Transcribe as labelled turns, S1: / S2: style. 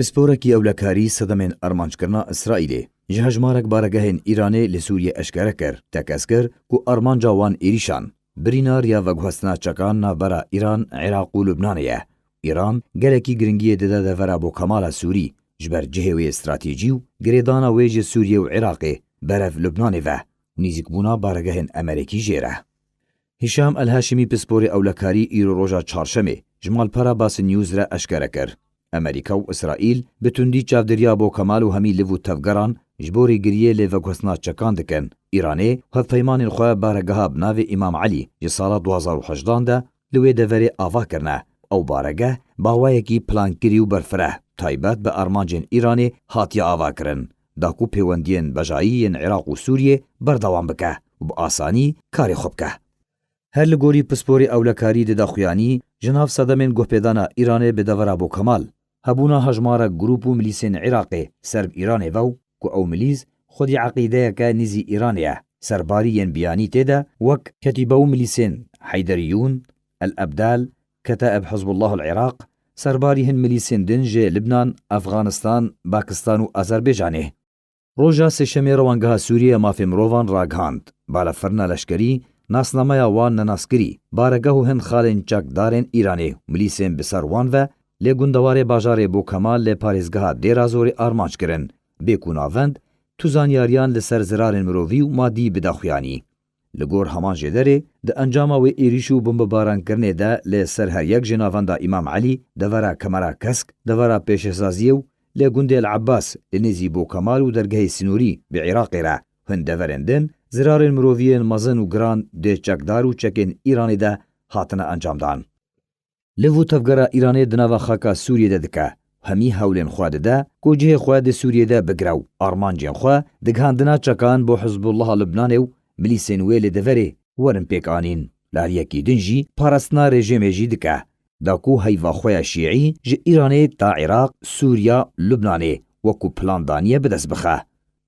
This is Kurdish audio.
S1: Pisporekî ewlekarî sedemên armanckirina Îsraîlê ji hejmarek baregehên Îranê li Sûriyê eşkere kir, tekeskir ku armanca wan êrîşan, birînar ya veguhestina çekan navbera Îran, Iraq û Lubnanê ye. Îran gelekî giringiyê dide devera bo Kemala Sûrî ji ber cihê wê stratejî û girêdana wê ji Sûriyê û Iraqê berev Lubnanê ve û nîzîkbûna baregehên Emerekî jê re. Hîşam El-Haşimî pisporê ewlekarî îro roja Çarşemê ji malpera Basn News re eşkere kir, Amerîka û Îsraîl bi tundî çavdêriya bo Kemal û hemî liv û tevgeran ji bo rêgiriyê lê veguhestina çekan dikin. Îranê hevpeymanên xwe baregeha bi navê Îmam Elî ji sala du hezar û hejdan de li wê deverê ava kirine. Ew baregeh bawayekî plankirî û berfireh taybet bi armancên Îranê hatiye avakirin da ku pêwendiyên bejayî yên Iraq û Sûriyê berdewam bike û bi asanî karê xwe bike. Her li gorî pisporê ewlekarî di daxuyanî ji nav sedemên guhpêdana Îranê bi dever a Bo Kemal, hebûna hejmarek grûp û milîsên Iraqê ser bi Îranê ve û ku ew milîs xwedî eqîdeyeke nîzî Îranê ye serbarî yên biyanî tê de wek Ketîbe û milîsên Heyderiyûn, El Ebdal, Keta'eb Hizbullahul Iraq, serbarî hin milîsên din ji Libnan, Efxanistan, Bakistan û Azerbaycanê. Roja Sêşemê Rewangeha Sûriyê Mafê Mirovan ragihand, balafirina leşkerî, nasnameya wan nenaskirî, baregeh û hin xalên çakdarên Îranê û milîsên bi ser wan ve lê gundewarê bajarê Bokemal lê parêzgeha Dêra Zorê armanc kirin, bê ku navend tu zanyariyan li ser zirarên mirovî û madî bide xuyanî. Li gor heman jê derê, di encama wê êrîş û bombebarankirnê de lê ser her yek jê navenda Îmam Elî, devera Kemera Kesk, devera Pêşesaziyê û lê gundê El Ebas li nêzî Bokemal û dergehê Sînorî bi Iraqê re hin deverên din zirarên mirovî yên mezin û giran dê çekdar û çekên Îranê de hatine encamdan. Li vû tevgera Îranê di nava xaka Sûriyê de dike û hemî hewlên xwe dide ku cihê xwe di Sûriyê de bigire û armancên xwe di gihandina çekan bo Hizbûllaha Lubnanê û milîsên wê li deverê werin pêk anîn. Lariyekî din jî parastina rejêmê jî dike da ku heyva xwe ya şîî ji Îranê ta Iraq, Sûriya, Lubnanê wekû plan daniye bi dest bixe.